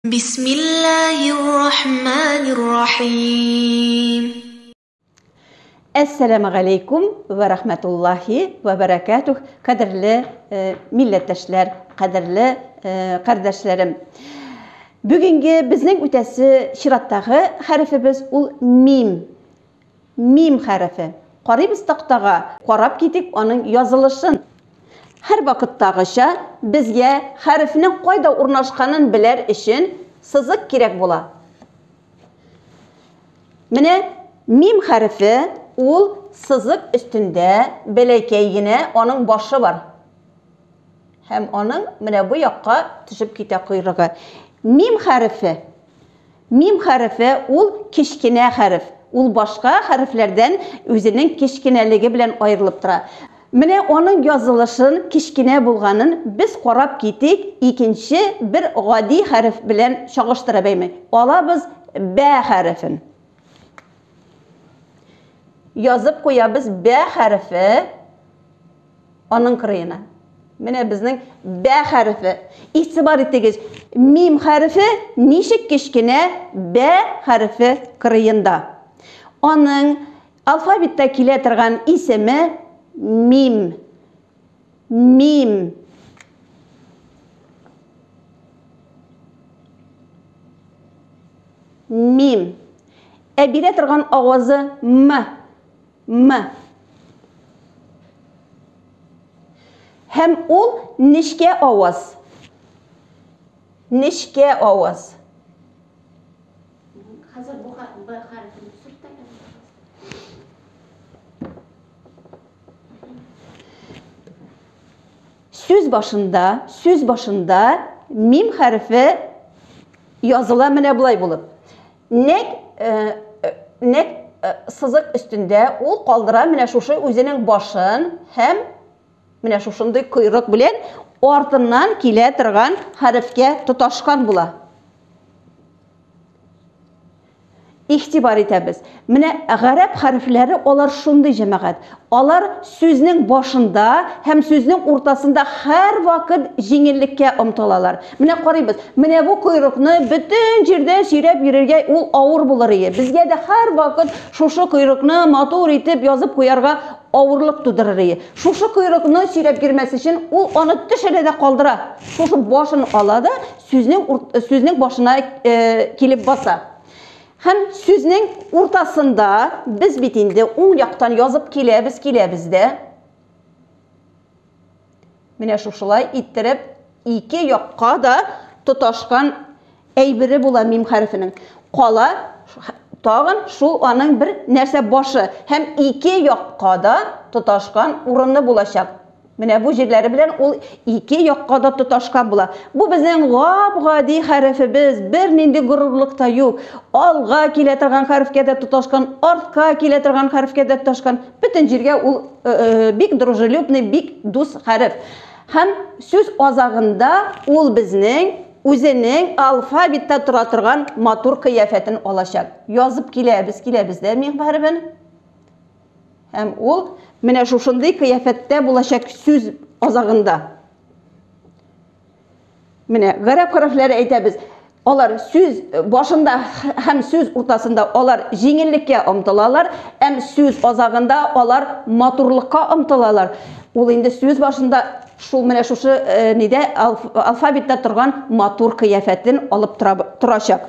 Бисмиллаһир-рахманир-рахим. Әссәламү галәйкүм вә рахмәтуллаһи вә бәрәкәтүһ, кадерле милләттәшләр, кадерле кардәшләрем. Бүгенге безнең үтәсе чираттагы хәрефебез ул мим. Мим хәрефе. Карыйбыз тактага, карап китик аның язылышын. Һәрвакыттагыча, безгә хәрефнең кайда урнашканын беләр өчен сызык кирәк була. Менә мим хәрефе, ул сызык өстендә бәләкәй генә аның башы бар. Һәм аның менә бу якка төшеп китә койрыгы. Мим хәрефе Мим хәрефе ул кечкенә хәреф. Ул башка хәрефләрдән үзенең кечкенәлеге белән аерылып тора. Менә аның язылышын, кечкенә булганын без карап китик, икенче бер гади хәреф белән чагыштырып әйме. Алабыз бә хәрефен. Язып куябыз бә хәрефе. Аның кырыена. Менә безнең бә хәрефе. Игътибар итегез, мим хәрефе ничек кечкенә бә хәрефе кырыенда. Аның алфавитта килә торган исеме мим. Мим. Мим. Ә бирә торган авазы м. М. Һәм ул нечкә аваз. Нечкә аваз. Хәзер бу хәрефне Сүз башында, сүз башында мим хәрефе языла менә болай булып. Нәкъ, нәкъ сызык өстендә ул калдыра менә шушы үзенең башын һәм менә шушындый койрык белән артыннан килә торган хәрефкә тоташкан була. Игътибар итәбез. Менә гарәп хәрефләре алар шундый җәмәгать. Алар сүзнең башында һәм сүзнең уртасында һәрвакыт җиңеллеккә омтылалар. Менә карыйбыз, менә бу койрыкны бөтен җирдә сөйрәп йөрергә ул авыр булыр ие. Безгә дә һәрвакыт шушы койрыкны матур итеп язып куярга авырлык тудырыр ие. Шушы койрыкны сөйрәп йөрмәс өчен ул аны төшерә дә калдыра. Шушы башын ала да сүзнең, сүзнең башына килеп баса. Һәм сүзнең уртасында без бит инде уң яктан язып киләбез, киләбез дә. Менә шушылай иттереп ике якка да тоташкан әйбере була мим хәрефенең. Кала тагын шул аның бер нәрсә башы һәм ике якка да тоташкан урыны булачак. Менә бу җирләре белән ул ике якка да тоташкан була. Бу безнең гап-гади хәрефебез, бернинди горурлык та юк. Алга килә торган хәрефкә дә тоташкан, артка килә торган хәрефкә дә тоташкан. Бөтен җиргә ул бик дружелюбный, бик дус хәреф. Һәм сүз азагында ул безнең үзенең алфавитта тора торган матур кыяфәтен алачак. Язып киләбез, киләбез дә мим хәрефен. Һәм ул менә шушындый кыяфәттә булачак сүз азагында. Менә гарәп хәрефләре әйтәбез. Алар сүз башында һәм сүз уртасында алар җиңеллеккә омтылалар, һәм сүз азагында алар матурлыкка омтылалар. Ул инде сүз башында шул менә шушы э, нидә алфавитта торган матур кыяфәтен алып тора, торачак.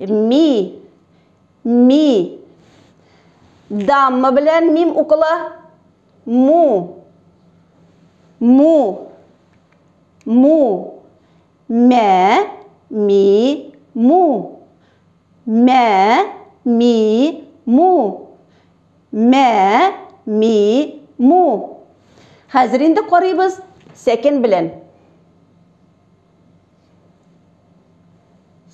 Ми. Ми. Дамма белән мим укыла. Му. Му. Му. Мә. Ми. Му. Мә. Ми. Му. Мә. Ми. Му. Хәзер инде карыйбыз сәкен белән.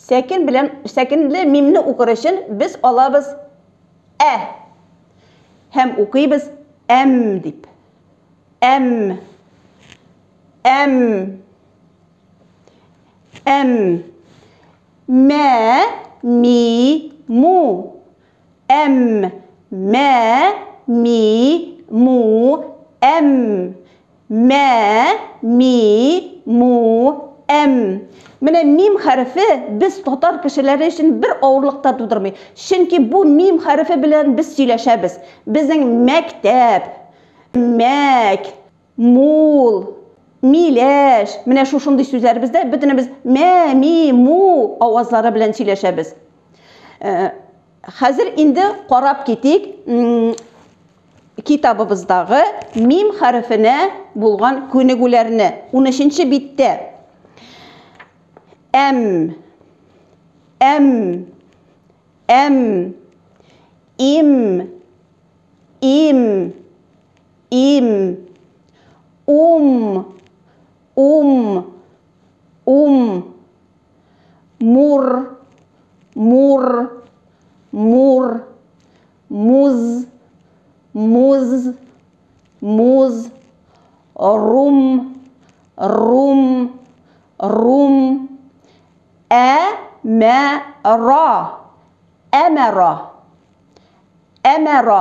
Сәкен белән сәкенле мимне укыр өчен без алабыз ә. Һәм укыйбыз әм дип. Әм. Әм. Әм. Мә, ми, му. Әм, мә, ми, му, әм. Мә, ми, му, әм. Менә мим хәрефе без татар кешеләре өчен бер авырлык та тудырмый. Чөнки бу мим хәрефе белән без сөйләшәбез. Безнең мәктәп, мәк, Мул, миләш, менә шушындый сүзләребездә бөтенебез мә, ми, му авазлары белән сөйләшәбез. Хәзер инде карап китик китабыбыздагы мим хәрефенә булган күнегүләрне. 13-нче биттә. Әм, әм, әм, им, им, Им. Ум. Ум. Ум. Мур. Мур. Мур. Муз. Муз. Муз. Рум. Рум. Рум. Ә. Мә. Ра. Әмәра. Әмәра.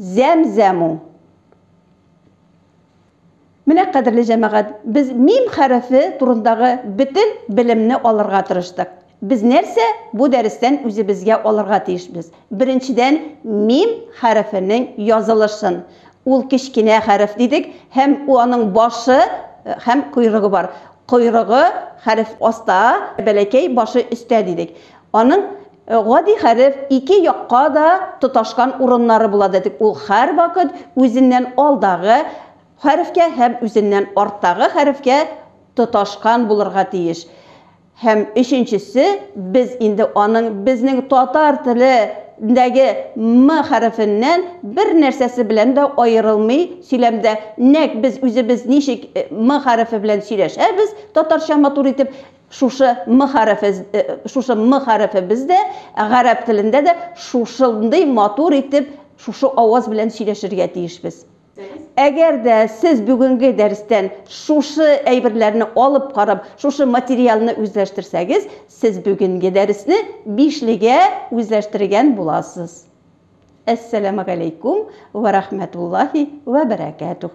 Зәмзәму. Менә, кадерле җәмәгать, без мим хәрефе турындагы бөтен белемне алырга тырыштык. Без нәрсә бу дәрестән үзебезгә алырга тиешбез? Беренчедән, мим хәрефенең язылышын. Ул кечкенә хәреф дидек һәм аның башы һәм койрыгы бар. Койрыгы хәреф аста, бәләкәй башы өстә дидек. Аның гади хәреф ике якка да тоташкан урыннары була дидек, ул һәрвакыт үзеннән алдагы хәрефкә һәм үзеннән арттагы хәрефкә тоташкан булырга тиеш. Һәм өченчесе, без инде аның безнең татар теле ндәге м хәрефеннән бер нәрсәсе белән дә аерылмый, сөйләмдә нәкъ без үзебез ничек м хәрефе белән сөйләшәбез татарча матур итеп, Шушы м хәрефе шушы м хәрефе бездә гарәп телендә дә шушындый матур итеп шушы аваз белән сөйләшергә тиешбез. Әгәр дә сез бүгенге дәрестән шушы әйберләрне алып карап, шушы материалны үзләштерсәгез, сез бүгенге дәресне бишлегә үзләштергән буласыз. Әссәләмәгаләйкүм вә рәхмәтуллаһи вә бәрәкәтүһ.